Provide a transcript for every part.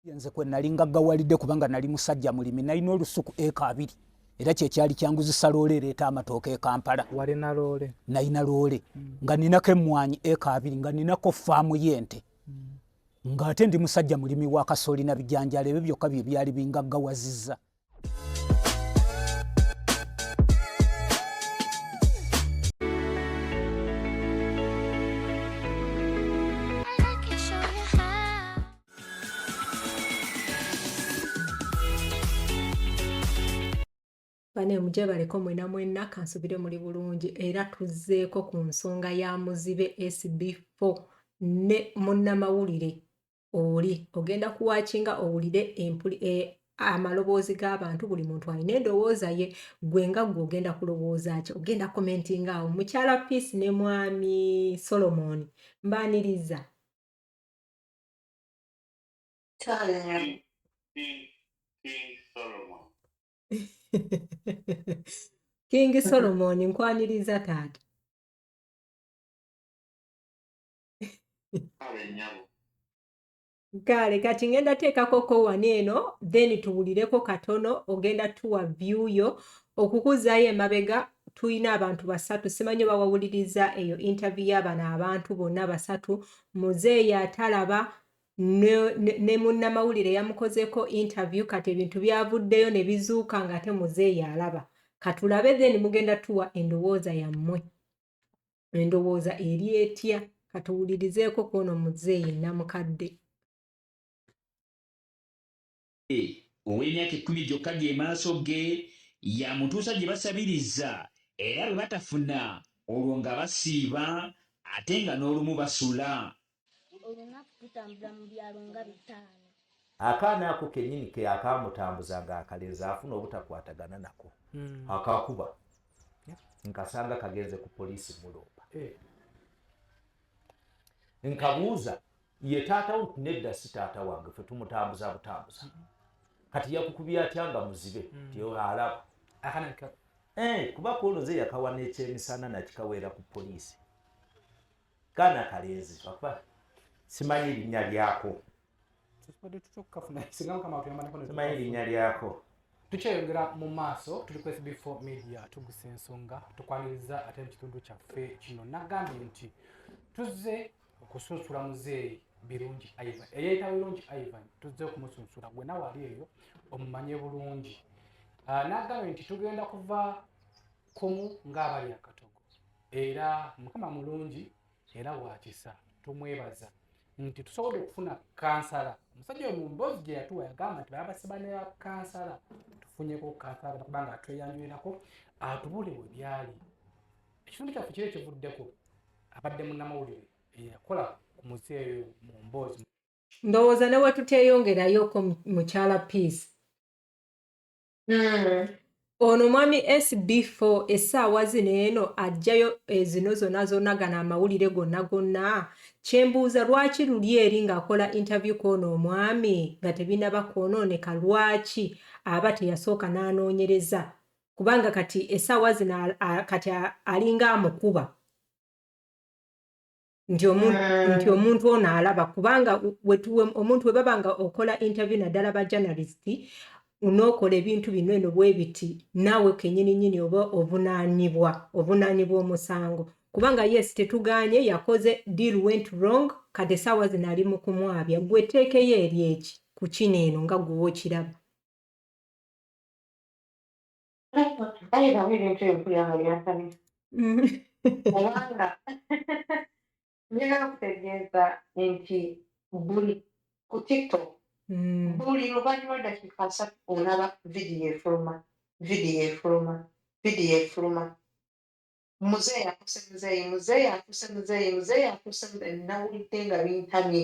yenze kwe nali nga gawalide kubanga nali musajja mulimi nalina olusuku eka abiri era kyekyali kyanguzisa loole ereeta amatooka ekampala walina loole nalina loole mm. nga ninako emmwanyi eka abiri nga ninako faamu y'ente mm. ng'ate ndi musajja mulimi wa kasooli na bijanjalo ebyo byokka bye byali bingaggawaziza bane mujebaleko mwena mwena kansubire muli bulungi era tuzzeeko ku nsonga ya muzibe sb4 ne munnamawulire oli ogenda kuwakinga owulire empuli e, amaloboozi g'abantu buli muntu alina endowooza ye gwe nga gwe ogenda kulowooza ki ogenda komentinga awo mukyala peace ne mwami solomon mbaniriza kingi solomon nkwaniriza taata gaale kati ngenda teekakoko wani eno then tuwulireko katono ogenda tuwa view yo okukuzaayo emabega tulina abantu basatu simanyi oba wawuliriza eyo interview y'abano abantu bonna basatu muzeeyi atalaba ne munnamawulire yamukozeko interview kati ebintu byavuddeyo ne bizuuka ng'ate muzeeyi alaba katulabe then mugenda tuwa endowooza yammwe endowooza eri etya katuwulirizeeko kwono muzeeyi namukadde eh, ow'emyaka ekkumi gyokka ge maaso ge yamutuusa gye basabiriza era bwe batafuna olwo nga basiiba ate nga n'olumu basula olunaku tutambula mu byalo nga bitaano akaana ako kenyini ke akamutambuza nga akalenzi afuna obutakwatagana nako hmm. akakuba nkasanga kagenze ku poliisi mulomba eh. nkabuuza ye taata wo nedda si taata wange fe tumutambuza butambuza hmm. kati yakukubya atya nga muzibe hmm. tialaba eh, kuba kuono ze yakawa nekyemisana nakikaweera ku poliisi kana kalenzi papa simanyi erinnya lyako simanyi erinnya lyako tukyeyongera mu maaso tuli ku sb4 media tugusa ensonga tukwaniriza ate mu kitundu kyaffe kino nagambye nti tuzze okusunsula muzeeyi birungi ivan eyayita birungi ivan tuzze okumusunsula gwe nawe ali eyo omumanye bulungi ah, nagambye nti tugenda kuva kumu ng'abali akatogo era mukama mulungi era wakisa tumwebaza nti tusobodde okufuna kansala omusajja oyo mumboozi gye yatuwa yagamba nti babasiba ne bakansala tufunyeko kansala kubanga atweyanjulirako atubule we byali ekitundu kyaffe kiri ekivuddeko abadde munnamawulire eyakola ku muzeeyo mu mboozi ndowooza ne wetuteyongerayooko mukyala peace hmm. ono mwami sb4 essaawa zino eno ajjayo ezino eh, zona zona gana amawulire gonna gonna kyembuuza lwaki luli eri ng'akola interview kwono omwami nga tebinaba kwonooneka lwaki aba teyasooka n'anoonyereza kubanga kati essaawa zino kati alinga amukuba nti omuntu mm. nti omuntu ono alaba kubanga wetuwe omuntu webaba nga okola interview naddala ba journalist unookola ebintu bino eno bwebiti naawe kenyini nyini oba ovunaanibwa ovunaanibwa omusango kubanga yes tetuganye yakoze deal went wrong kati esaawa zino ali mu kumwabya gwe teekeyo eri eki ku kino eno nga gwewa okiraba Kale nabo ebintu ebyo mpulira nga byansanyusa kubanga njagala kutegeeza nti buli ku tiktok Mm. buli luvannyuma lw'eddakiika asatu olaba vidiyo efuluma vidiyo efuluma vidiyo efuluma muzeeyi afuuse muzeeyi muzeeyi afuuse muzeeyi muzeeyi afuuse muzeeyi nawulidde nga bintamye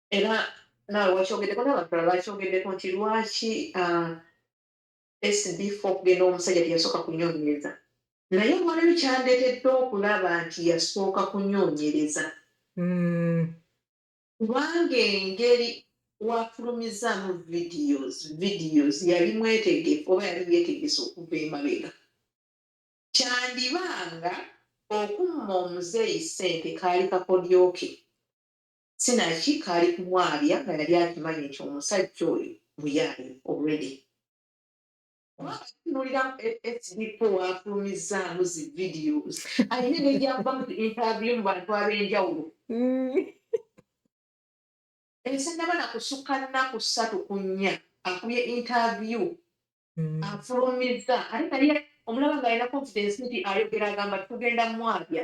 era naawe wakyogeddeko n'abantu bala bakyogeddeko nti lwaki ah, sd four okugenda omusajja teyasooka kunyonyereza naye olwaleero kyandeetedde okulaba nti yasooka kunyonyereza mm. kubanga engeri wafulumizaamu videos videos yali mwetegefu oba yali yetegese okuva emabega kyandiba nga okumma omuzeeyi ssente kaali kakodyoke sinaki kaali kumwabya nga yali akimanyi nti omusajja oyo muyaye already kuba abatunulira fb po wafulumizaamu zi videos alina negyava mu interview mu bantu ab'enjawulo ensi naba na kusukka nnaku ssatu ku nnya akubye interview mm. afulumiza ate naye omulaba ng'alina confidence nti ayogera agamba tugenda mwabya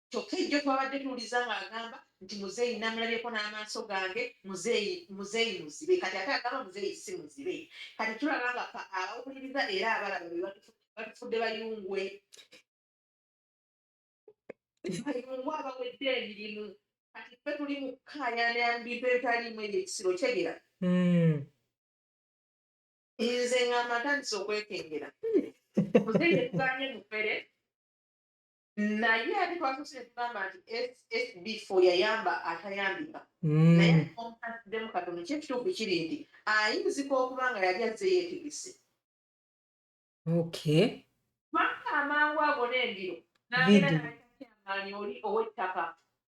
kyokka ejjo twabadde tuwuliza ng'agamba nti muzeeyi namulabyeko n'amaaso gange muzeeyi muzeeyi muzibe kati ate agamba muzeeyi si muzibe kati tulaba nga fa abawuliriza era abalaba be batufudde bayungwe bayungwe abawedde emirimu kati ffe tuli mu kukaayana bintu ebitaliimu ebyo ekisiro kyegera hmm. nze ng'amatandisa okwekengera muzeeyi etuganye mufere naye ate twasose tugamba nti sb fo yayamba atayambika hmm. naye omukatiddemu katono kyekituufu kiri nti ayinzika okuba nga yali azze yetegese okay kubanga amangu ago n'embiro nagenda naamaanyi oli ow'ettaka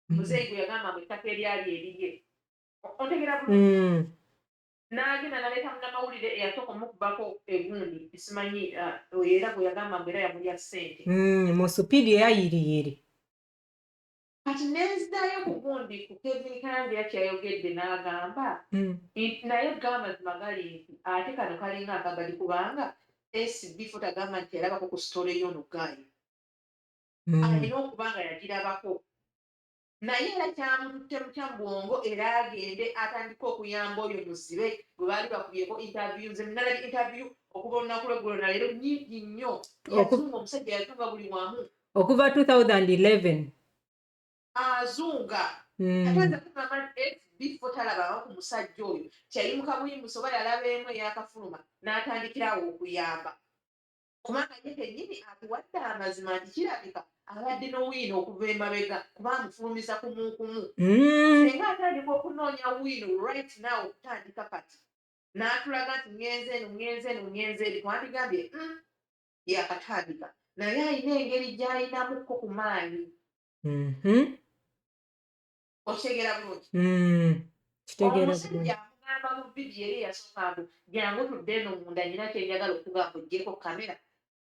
hmm. muzeeyi gwe yagamba mu ettaka eryali eriye ontegera bulungi hmm. n'agenda naleeta munamawulire eyasooka omukubako egundi simanyi uh, oyo era gweyagamba mbu era yamulya ssente mm, mu supidi eyayiriyiri kati nenzidayo ku gundi ku kevin kangira kyeyayogedde n'agamba mm. nti naye gamazima gali nti ate kano kalinga akagadi kubanga sb fot agamba nti yalabako ku sitole yono gayi mm. alina okuba nga yagirabako naye era kyamututte butya mu bwongo era agende atandika okuyamba oyo muzibe gwe baali bakubyeko interview nze nalabye interview okuva olunaku lweggulo naleero nyingi nnyo yazunga omusajja yazunga buli wamu okuva 2011 azunga hmm. atweza kugamba bifo talabawo ku musajja oyo kyayimuka buyimusa oba yalaba emu eyakafuluma n'atandikirawo okuyamba kubanga ye kennyini atuwadde amazima nti kirabika abadde n'owino okuva emabega kuba amufulumiza kumukumu hmm. singa atandika okunoonya wino right now okutandika kati n'atulaga nti ngenze eno ngenze eno ngenze eri twandigambye hmm, yakatandika naye alina engeri gy'alinamuko ku maanyi mm-hmm. okitegeera bulungi hmm, omusajja amugamba mu vidiyo eri eyasooka mbu jangu tudde eno munda nyina kyenjagala okugamba ojjeko kamera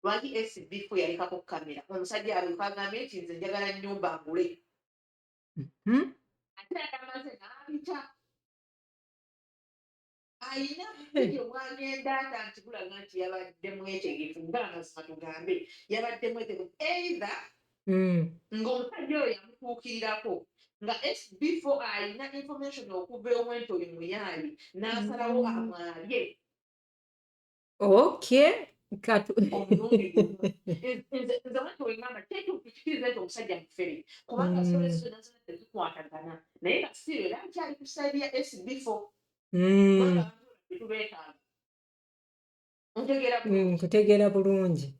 lwaki sbf yalekako kamera omusajja aluka agambe nti nze njagala nyumba ngule hmm? ate yagamaze nabita alina video bwagenda ata nti bulaga nti yabadde mwetegefu nga amazima tugambe yabadde mwetegefu either mm. ng'omusajja oyo yamutuukirirako nga sb4 alina information okuva ewenti oli muyaali n'asalawo mm. amwabye oky katu nkutegeera mm. mm, bulungi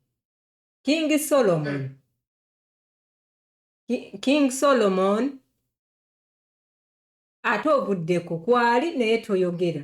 king solomon mm. King Solomon ate ovuddeko kwali naye toyogera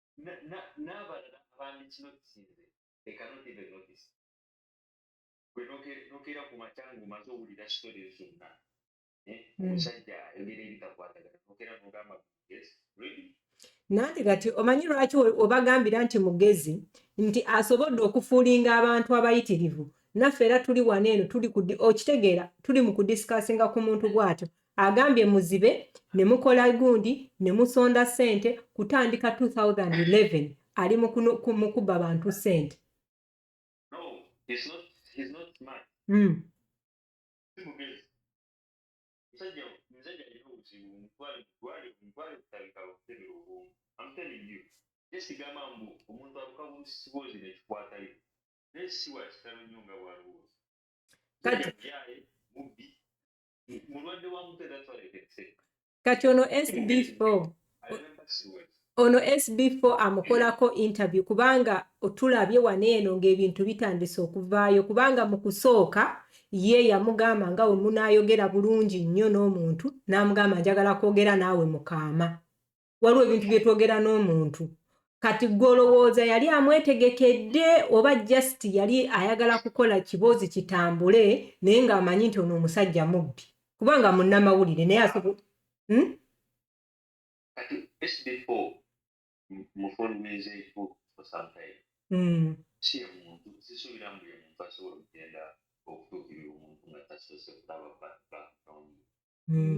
n'abalala abandi kino kisinze they cannot even notice gwe nokeera ku makya ng'omaze owulira story zonna eh, hmm. omusajja ayogera ebitakwatagana nokeera nogamba yes really nanti kati omanyi lwaki obagambira nti mugezi nti asobodde okufuulinga abantu abayitirivu naffe era tuli wano eno tuli okitegeera tuli mu kudisikasinga ku muntu bwatyo Agambye muzibe ne mukola gundi ne musonda ssente kutandika 2011 ali mu kubba bantu ssente. Hmm. Esigamba mbu omuntu aluka busibozi nekikwatayo naye siwa kitalo nnyo nga bwaliwo kati kati ono sb4 ono sb4 amukolako interview kubanga otulabye wano eno ng'ebintu bitandise okuvaayo kubanga mu kusooka ye yamugamba nga we munaayogera bulungi nnyo n'omuntu n'amugamba njagala kwogera naawe mukaama waliwo ebintu bye twogera n'omuntu kati gwe olowooza yali amwetegekedde oba just yali ayagala kukola kiboozi kitambule naye ng'amanyi nti ono omusajja mubbi kubanga munnamawulire naye asobola hmm? hmm. hmm.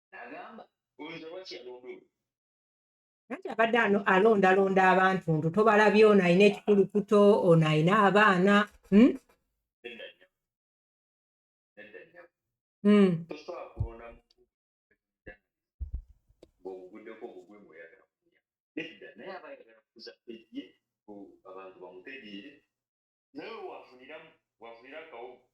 agamba oyinza lwaki yalonda oyo anti abadde alondalonda abantu ntu tobalabye ono alina ekikulukuto ono alina abaana hmm? hmm. abantu bamutegeere naye wafuniramu wafunira akawogo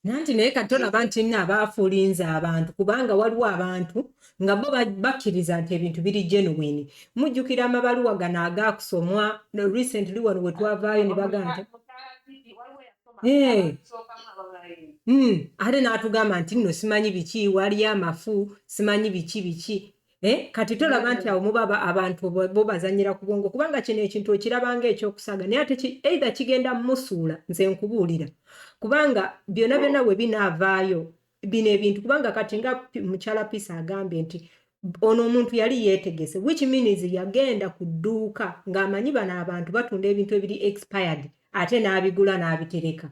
nanti naye kati olaba nti nno abaafulinze abantu kubanga waliwo abantu nga bo bakkiriza nti ebintu biri genuwini mujjukira amabaluwa gano agaakusomwa recently wano we twavaayo ne bagamba eh. hmm. ate n'atugamba nti nno simanyi biki waliyo amafu simanyi biki biki Eh, kati tolaba nti awo muba abantu bo bazanyira ku bwongo kubanga kino ekintu okirabanga ekyokusaaga naye ate eitha kigenda musuula nze nkubuulira kubanga byona byona we binaavaayo bino ebintu kubanga kati nga mukyala pisa agambye nti ono omuntu yali yeetegese which means yagenda ku dduuka ng'amanyi bano abantu batunda ebintu ebiri expired ate n'abigula n'abitereka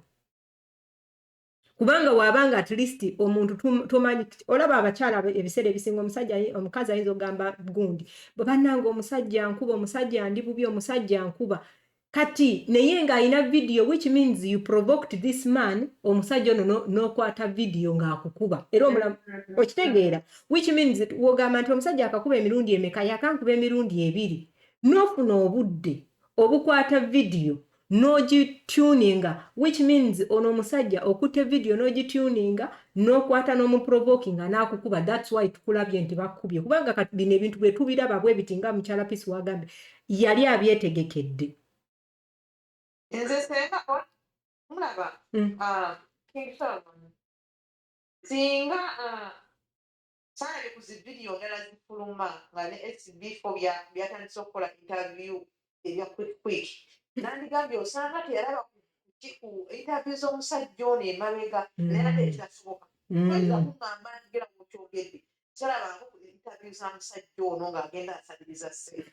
kubanga wabanga at least omuntu tumanyi olaba abakyala ebiseera ebisinga omusajja omukazi ayinza okugamba gundi bwe bannanga omusajja nkuba omusajja ndi bubi omusajja nkuba kati naye ng'alina vidiyo which means you provoked this man omusajja ono n'okwata vidiyo ng'akukuba era omulamu okitegeera which means wogamba nti omusajja akakuba emirundi emeka yakankuba emirundi ebiri n'ofuna obudde obukwata vidiyo n'ogituninga which means ono omusajja okutte vidiyo n'ogituninga n'okwata n'omuprovokinga n'akukuba thats why tukulabye nti bakukubye kubanga kati bino ebintu bwe tubiraba bwe biti nga mukyala pisi wagambye yali abyetegekedde nze senga mulaba hmm. ah, singa ah, Salabye ku zi video ndala zifuluma nga ne SB Fobia byatandise okukola interview ebya quick quick. Nandigambye osanga teyalaba ku ki ku interview z'omusajja ono emabega naye ate ekitasoboka. Toyinza kungamba nti gera mukyogedde tolabango ku interview za musajja ono ng'agenda asabiriza ssente.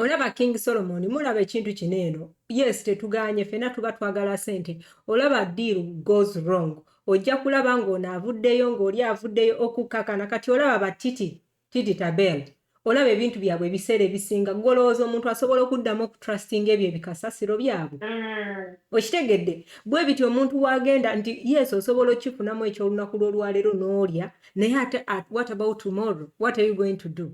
olaba king solomon mulaba ekintu kino eno yes tetuganye fena tuba twagala sente olaba deal goes wrong ojja kulaba ng'ono avuddeyo ng'oli avuddeyo okukkakana kati olaba batiti titi tabel olaba ebintu byabwe ebiseera ebisinga golowooza omuntu asobola okuddamu okutrustinga ebyo ebikasasiro byabwe mm. okitegedde bwe biti omuntu wagenda nti yes osobola okifunamu ekyolunaku lwolwaleero n'olya naye ate what about tomorrow what are you going to do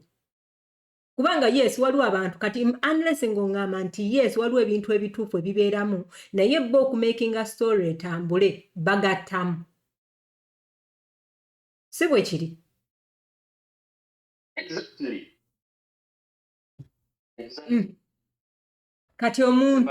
kubanga yes waliwo abantu kati unless ng'oŋŋamba nti yes waliwo ebintu ebituufu ebibeeramu naye bo okumakinga story etambule bagattamu si bwe kiri mm. kati omuntu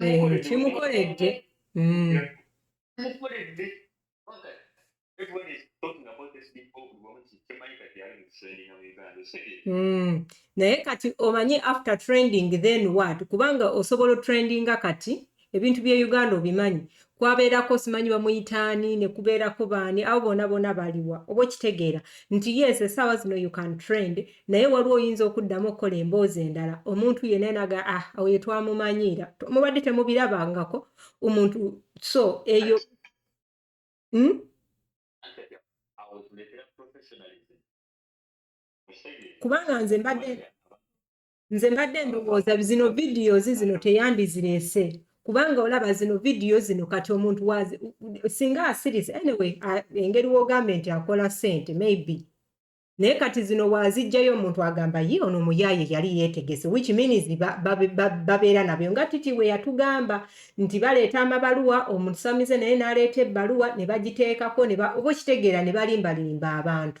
eh, kimukoledde hmm. hmm. naye kati omanyi after trending then what kubanga osobola otrendinga kati ebintu bye uganda obimanyi kwabeerako simanyi bamuyita ani ne kubeerako baani abo bona bona baliwa oba okitegeera nti yes essaawa zino you can trend naye waliwo oyinza okuddamu okukola emboozi endala omuntu yena naga ah awo yetwamumanyiira mubadde temubirabangako omuntu so eyo hmm? kubanga nze mbadde nze mbadde ndowooza zino videos zino teyandizirese kubanga olaba zino vidiyo zino kati omuntu wazi singa asiriza anyway engeri wogambye nti akola sente maybe naye kati zino wazijjayo omuntu agamba ye ono omuyaye yali yetegese which means babeera nabyo nga titi we yatugamba nti baleeta amabaluwa omusamize naye naleeta ebbaluwa ne bagiteekako oba okitegeera ne balimbalimba abantu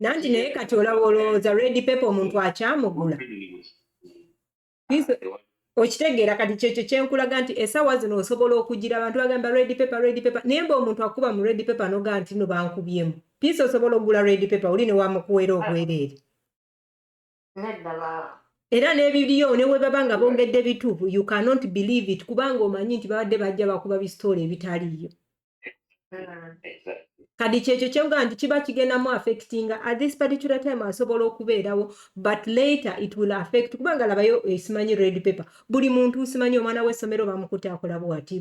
nanti naye kati olaba olowooza redi pepe omuntu akyamugula okitegeera kati kyekyo kyenkulaga nti esawa zino osobola okugira abantu bagamba redi pepe redi pepe naye mba omuntu akuba mu redi pepe noga nti no bankubyemu piisa osobola okugula redi pepe oli newamukuwera obwereere era n'ebiriyo ne bwe baba nga bongedde bituufu you cannot believe it kubanga omanyi nti babadde bajja bakuba bisitoola ebitaliiyo kadi kyekyo kyenga nti kiba kigendamu affectinga at this particular time asobola okubeerawo but later it will affect kubanga labayo esimanyi eh, red paper buli muntu simanyi omwana w'essomero bamukutte akola bwati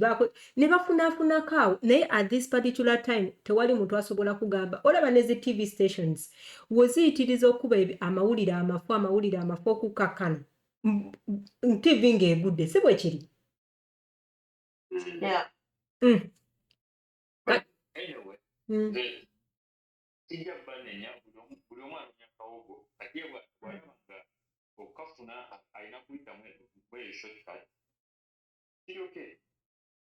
ne bafunafunako awo naye at this particular time tewali muntu asobola kugamba olaba ne zi tv stations woziyitiriza okuba amawulire amafu amawulire amafu okukakkana ntivi ng'egudde si bwe kiri mm. Mm. okukafuna alina kuyitamu eyo shortcut kiri okay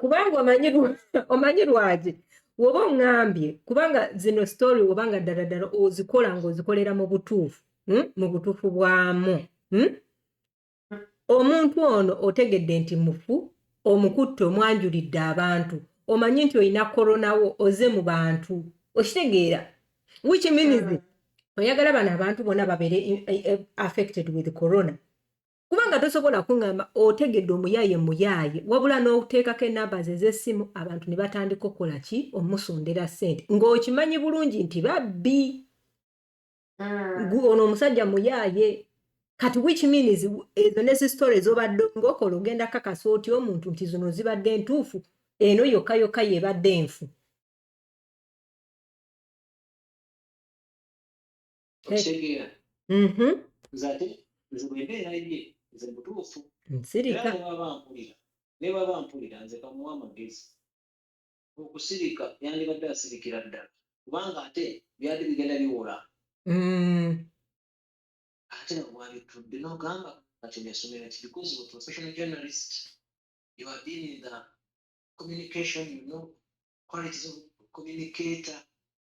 kubanga omanyi lwaki woba oŋambye kubanga zino story woba nga ddala ddala ozikola ngaozikolera mu butuufu hmm? mu butuufu bwamu hmm? omuntu ono otegedde nti mufu omukutte omwanjulidde abantu omanyi nti olina koronawo oze mu bantu okitegeera which means hmm. oyagala bano abantu bona babere eh, eh, affected with corona kubanga tosobola kuŋŋamba otegedde omuyaaye muyaaye wabula n'oteekako enamba ze ez'essimu abantu ne batandika okukola ki omusondera ssente ng'okimanyi bulungi nti babbi hmm. ono omusajja muyaaye kati which means ezo ne zisitore ezobadde ng'okola ogenda kakasa otya omuntu nti zino zibadde ntuufu eno yokka yokka yebadde nfu okitegeera mhm. nze ate nze bwembeera ye nze mutuufu nsirika nebaba mpulira nebaba mpulira nze kamuwa amagezi okusirika yandibadde asirikira ddala kubanga ate byali bigenda biwola mm. ate nabwabitudde nogamba kati nesomera ki because of professional journalist you are being in the communication you know qualities of communicator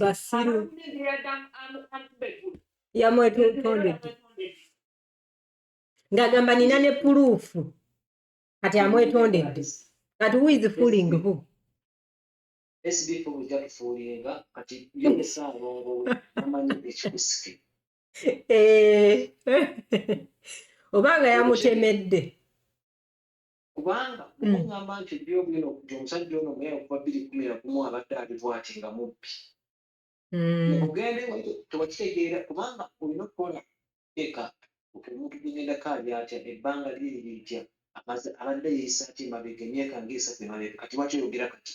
basiru yamwetondedde ng'agamba nina ne puluufu kati amwetondedde kati who is fooling who sbf ojja tufuulinga kati yolesa alongowe amanyi ekikusike eh. obanga yamutemedde kubanga hmm. ogamba nti ebyogenda okuti omusajja ono mweya okuva biri kumi na gumu abadde ali bwati nga mubbi hmm. ogende tewakitegeera kubanga olina okukola eka omuntu gwenyendako ali atya ebbanga liri litya abadde yeyisaaki emabega emyaka ngaesatu emabega kati lwaki oyogera kati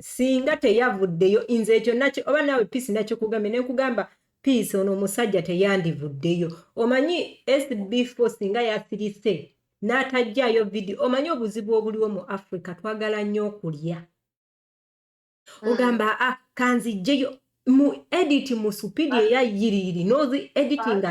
singa teyavuddeyo nze ekyo nakyo oba naawe piisi nakikugambe ne nkugamba piisi ono omusajja teyandivuddeyo omanyi sb fo singa yasirise n'atajjaayo vidiyo omanyi obuzibu obuliwo mu afrika twagala nnyo okulya hmm. ogamba a ah, kanzijjeyo mu editi mu supidi eya yiriyiri nozi editinga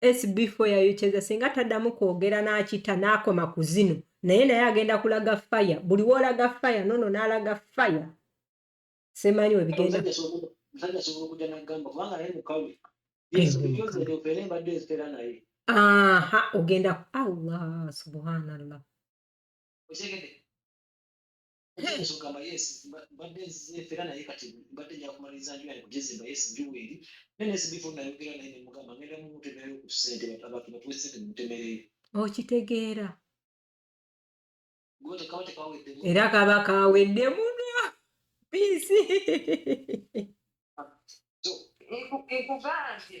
sb4 yayokyeza singa taddamu kwogera n'akita n'akoma ku zino naye naye agenda kulaga faya buli woolaga faya nono n'alaga faya semanyi webigenda aha ogenda allah subhanallah oyinza okugamba yes mbadde nzefera naye kati mbadde nja kumaliriza nju yange kugizimba yes nju weeri naye nesibifo nayogera naye nemugamba ngenda mumutemerayo ku ssente abantu batuwe ssente mumutemereyo okitegeera era kaba kawedde muno biisi ah, ekugambye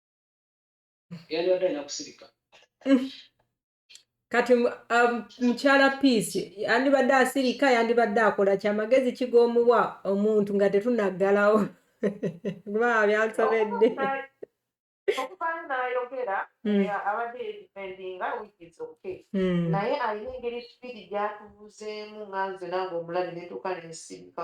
yandibadde alina kusirika kati um, mukyala um, piisi yandibadde asirika yandibadde akola kyamagezi kigoomuwa omuntu nga tetunaggalawo kuba byansobedde okuvaayo n'ayogera hmm. abadde yedifendinga wikis ok hmm. naye alina engeri sipiidi gyatubuzeemu nga nze nange omulabi netuuka nensibuka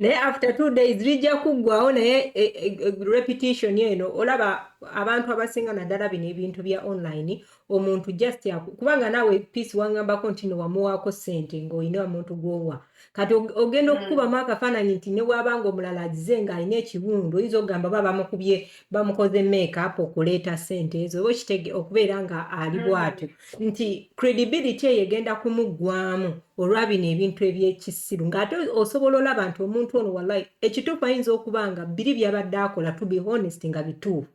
naye after two days lijja kuggwawo naye e, e, e, repetition eno olaba abantu abasinga naddala bino ebintu bya online omuntu just kubanga naawe peace wangambako nti newamuwaako ssente ngaolina omuntu gwowa kati ogenda mm. okukubamu akafaananyi nti newabanga omulala azize ng'alina ekiwundu oyinza okugamba ba bamukubye bamukoze makeup okuleeta sente ezo oba okitege okubeera nga ali mm. bwatyo nti credibility eyo egenda kumuggwamu olwa bino ebintu ebyekisiru ng'ate osobola olaba nti omuntu ono wallahi ekituufu ayinza okuba nga biri byabadde akola to be honest nga bituufu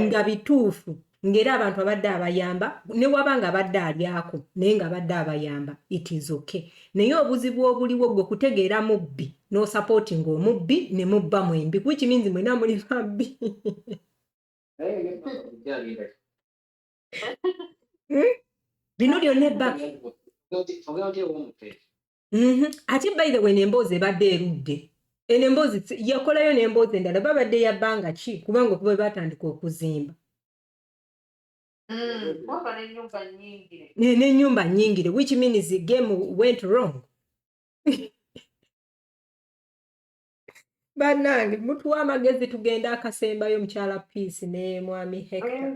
nga bituufu ng'era abantu abadde abayamba ne waba nga abadde alyako naye nga abadde abayamba it is okay naye obuzibu obuliwo gwe kutegeera mubbi n'osapooti ng'omubbi ne mubba mwembi which means mwena muli babbi hmm? bino byonna ebba mhm. ate by the way nemboozi ebadde erudde eno emboozi yakolayo nemboozi endala babadde yabbanga ki kubanga okuba batandika okuzimba Mm, n'enyumba nyingire which means the game went wrong banange mutuwa amagezi tugenda akasembayo mukyala peace ne mwami hekta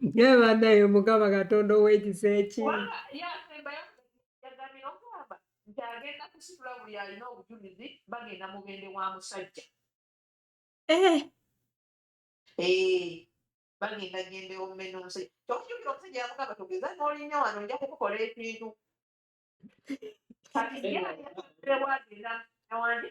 naye banaye mukama katonda owekisa eki nti agenda kusitula buli alina obujulizi bagenda mugende wa musajja eh. Eh, bagenda genda omumena omusajja kyokujukira omusajja yamugamba togeza nolinya wano nja kukukola ekintu kati yewagenda wanje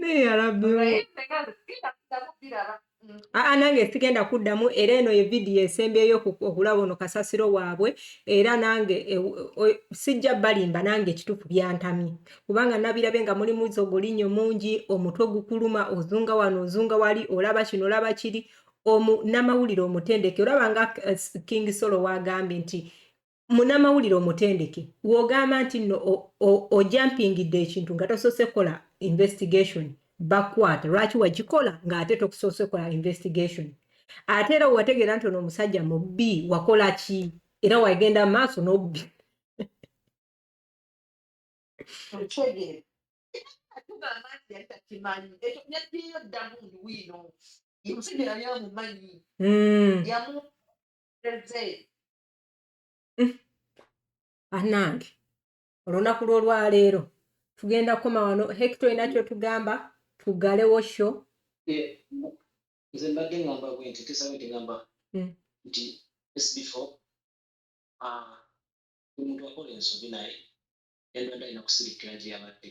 naye yarabbi aa nange sigenda kuddamu era eno ye vidiyo esembyeyo okulaba ono kasasiro waabwe era nange e, sijja balimba nange ekituufu byantamye kubanga nabirabe nga mulimu zogolinyo mungi omutwe gukuluma ozunga wano ozunga wali olaba kino olaba kiri omu namawulire omutendeke olaba nga eh, king solo wagambye nti munamawulire omutendeke wogamba nti no ojampingidde ekintu nga tosoose kukola investigation bakwata lwaki wagikola ng'ate tokusoose kola investigation ate era wategeera nti ono omusajja mubbi wakola ki era wagenda maaso nobbi mm. anange olunaku lwolwaleero tugenda kukoma wano hekita olina kyotugamba tugalewo sho eh, nze mbadde ngamba bwe nti tesawe nti ngamba mm. nti sbfo ah, omuntu akola ensobi naye endwadde alina kusirikkira gye yabadde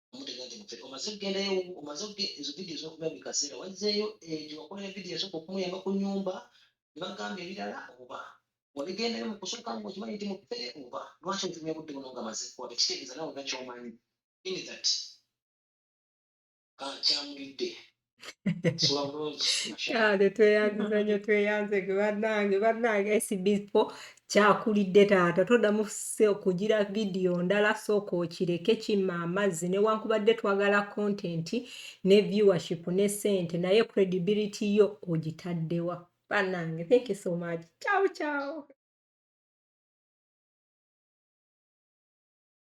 omutega nti mufere omaze okugendayo omaze ezo vidiyo zokuba buli kaseera wazzeeyo ejo wakola evidiyo esooka okumuyamba ku nyumba nebagamba ebirala oba wabigendayo mu kusooka nga okimanyi nti mufere oba lwaki otumya budde buno nga maze kuwaba ekitegeeza nawe olina kyomanyi in that ah, kyamulidde kale tweyanziza nyo tweyanze ge banange banange sbpo kyakulidde taata toddamu okugira vidiyo ndala sooka okireke kimma amazzi newankubadde twagala kontenti ne viewership ne sente naye credibility yo ogitaddewa banange thank you so much ciao ciao